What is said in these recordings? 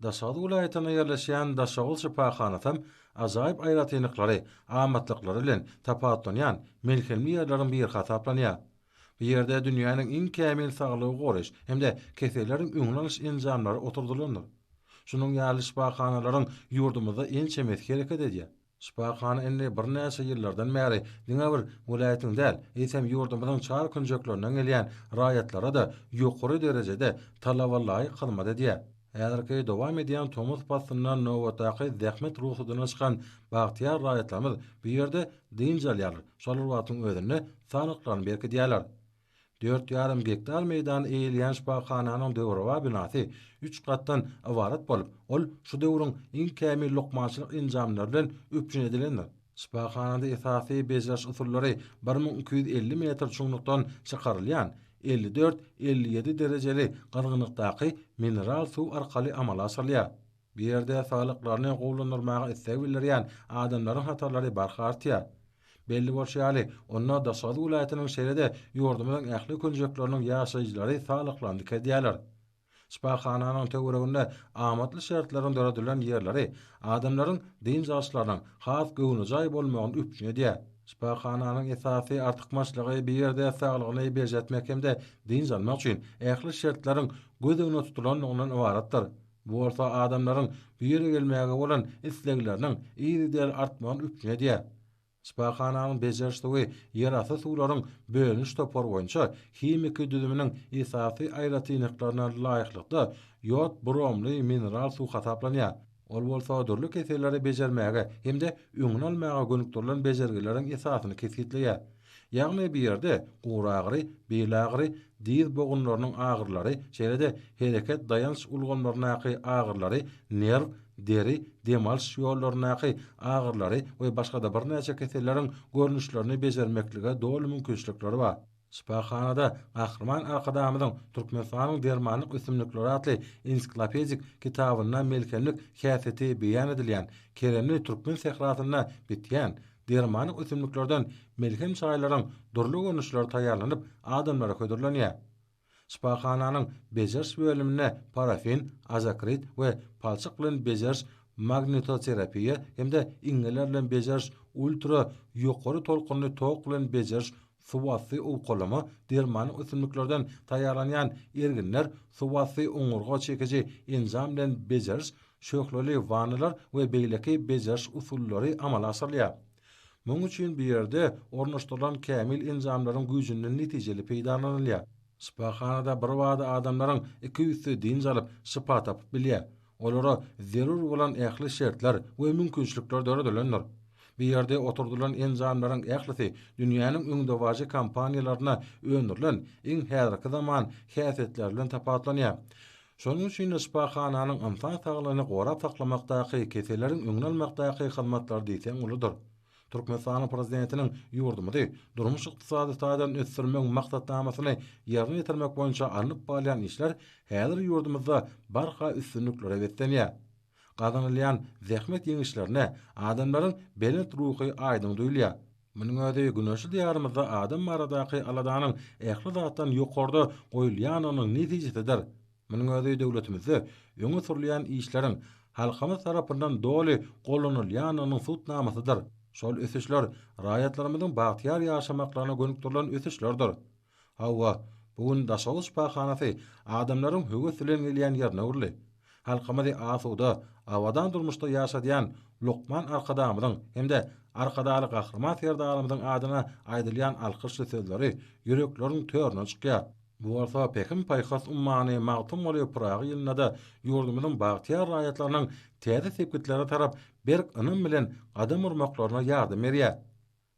Daşoguz welaýatynda ýerleşýän Daşoguz şypahanasyam ajaýyp aýratynlyklary, amatlyklary bilen tapawutlanýan melhemli ýerleriň biri hasaplanýar. Bu ýerde dünýäniň iň kämil saglygy goraýyş hem-de keselleriň öňüni alyş enjamlary oturdylandyr. Şunuň ýaly şypahanalaryň ýurdumyzda ençemesi hereket edýär. Şypahana indi birnäçe ýyllardan bäri diňe bir welaýatyň däl, eýsem ýurdumyzyň çar künjeklerinden gelýän raýatlara-da ýokary derejede talabalaýyk hyzmat edýär. Häzirki dowam edýän tomus paslynda nobatdaky zähmet rugsadyna çykan bagtyýar raýatlarymyz bu ýerde dynç alýarlar, şol bir wagtyň özünde saglyklaryny berkidýärler. Dört ýarym gektar meýdany eýeleýän şypahananyň döwrebap binasy üç gatdan ybarat bolup, ol şu döwrüň iň kämil lukmançylyk enjamlary bilen üpjün edilendir. Şypahanada esasy bejeriş usullary bir müň iki ýüz elli metr çuňlukdan çykarylýan elli dört, elli ýedi derejeli gyzgynlykdaky mineral suw arkaly amala aşyrylýar. Bu ýerde saglyklaryny gowulandyrmaga isleg bildirýän adamlaryň hatarlary barha artýar. Belli bolşy ýaly, onda Daşoguz welaýatynyň şeýle-de ýurdumyzyň ähli künjekleriniň ýaşaýjylary saglyklaryny dikeltýärler. Şypahananyň töwereginde amatly şertleriň döredilen ýerleri adamlaryň dynç alyşlarynyň has göwnejaý bolmagyny üpjün edýär. Şypahananyň esasy artykmaçlygy bu ýerde saglygyny berjaýtmak hem-de dynç almak üçin ähli şertleriň göz öňünde tutulandygyndan ybaratdyr. Bu bolsa adamlaryň bu ýere gelmäge bolan islegleriniň yzygiderli artmagyny üpjün edýär. Şypahananyň bejeriş suwy ýerasty suwlaryň bölüniş topary boýunça himiki düzüminiň esasy aýratynlyklaryna laýyklykda ýod bromly mineral suw hasaplanýar, ol bolsa dürli keselleri bejermäge hem-de öňüni almaga gönükdirilen bejergileriň esasyny kesgitleýär. Ýagny bu ýerde guragyry, bil agyry, dyz bogunlarynyň agyrylary, şeýle-de hereket daýanç ulgamlaryndaky agyrylary, nerw, deri, dem alyş ýollaryndaky agyrylary we başga-da birnäçe keselleriň görnüşlerini bejermeklige doly mümkinçilikleri bar. Şypahanada Gahryman Arkadagymyzyň Türkmenistanyň dermanlyk ösümlikleri atly ensiklopedik kitabynda melhemlik häsiýeti beýan edilýän, keremli türkmen sährasynda bitýän, dermanlyk ösümliklerden melhem çaýlaryň dürli görnüşleri taýýarlanyp adamlara hödürlenýär. Şypahananyň bejeriş bölüminde parafin, azokrit we palçyk bilen bejeriş magnitoterapiýa hem-de iňňeler bilen bejeriş ultra ýokary tolkunly tok bilen bejeriş Suwasty owkalama dermany ösümliklerden taýýarlanýan erginler suwasty oňurga çekiji enjam bilen bejeriş, şöhleli wannalar we beýleki bejeriş usullary amala aşyrylýar. Munuň üçin bu ýerde ornaşdyrylan kämil enjamlaryň güýjünden netijeli peýdalanylýar. Şypahanada birbada adamlaryň iki üsti dynç alyp, şypa tapyp bilýär. Olara zerur bolan ähli şertler we mümkinçilikler döredilendir. Bu ýerde oturdylan enjamlaryň ählisi dünýäniň öňdebaryjy kompaniýalarynda öndürilen iň häzirki zaman häsiýetleri bilen tapawutlanýar. Şonuň üçin-de şypahananyň ynsan saglygyny gorap saklamakdaky, keselleriň öňüni almakdaky hyzmatlary diýseň uludyr. Türkmenistanyň Prezidentiniň ýurdumyzy durmuş-ykdysady taýdan ösdürmegiň maksatnamasyny ýerine ýetirmek boýunça alnyp barylýan işler häzir ýurdumyzda barha üstünliklere beslenýär. Gazanylýan zähmet ýeňişlerine adamlaryň belent ruhy aýdyň duýulýar. Munuň özi güneşli Diýarymyzda adam baradaky aladanyň ähli zatdan ýokarda goýulýandygynyň netijesidir. Munuň özi döwletimizde öňe sürülýän işleriň halkymyz tarapyndan doly gollanylýandygynyň subut namasydyr. Şol ösüşler raýatlarymyzyň bagtyýar ýaşamaklaryna gönükdirilen ösüşlerdir. Hawa, bu gün Daşoguz şypahanasy adamlaryň höwes bilen gelýän ýerine öwrüldi. Halkymyzy asuda, abadan durmuşda ýaşadýan lukman Arkadagymyzyň hem-de Arkadagly Gahryman Serdarymyzyň adyna aýdylýan alkyşly sözleri ýürekleriň törüne çykýar. Bu bolsa Pähim-paýhas ummany Magtymguly Pyragy ýylynda-da ýurdumyzyň bagtyýar raýatlarynyň täze sepgitlere tarap berk ynam bilen gadam urmaklaryna ýardam berýär.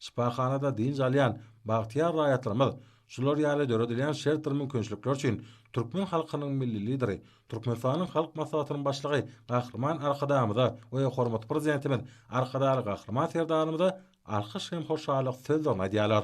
Şypahanada dynç alýan bagtyýar raýatlarymyz şular ýaly döredilýän şert bir mümkinçilikler üçin türkmen halkynyň Milli Lideri, Türkmenistanyň Halk Maslahatynyň Başlygy Gahryman Arkadagymyza we hormatly Prezidentimiz Arkadagly Gahryman Serdarymyza alkyş hem hoşallyk sözlerini aýdýarlar.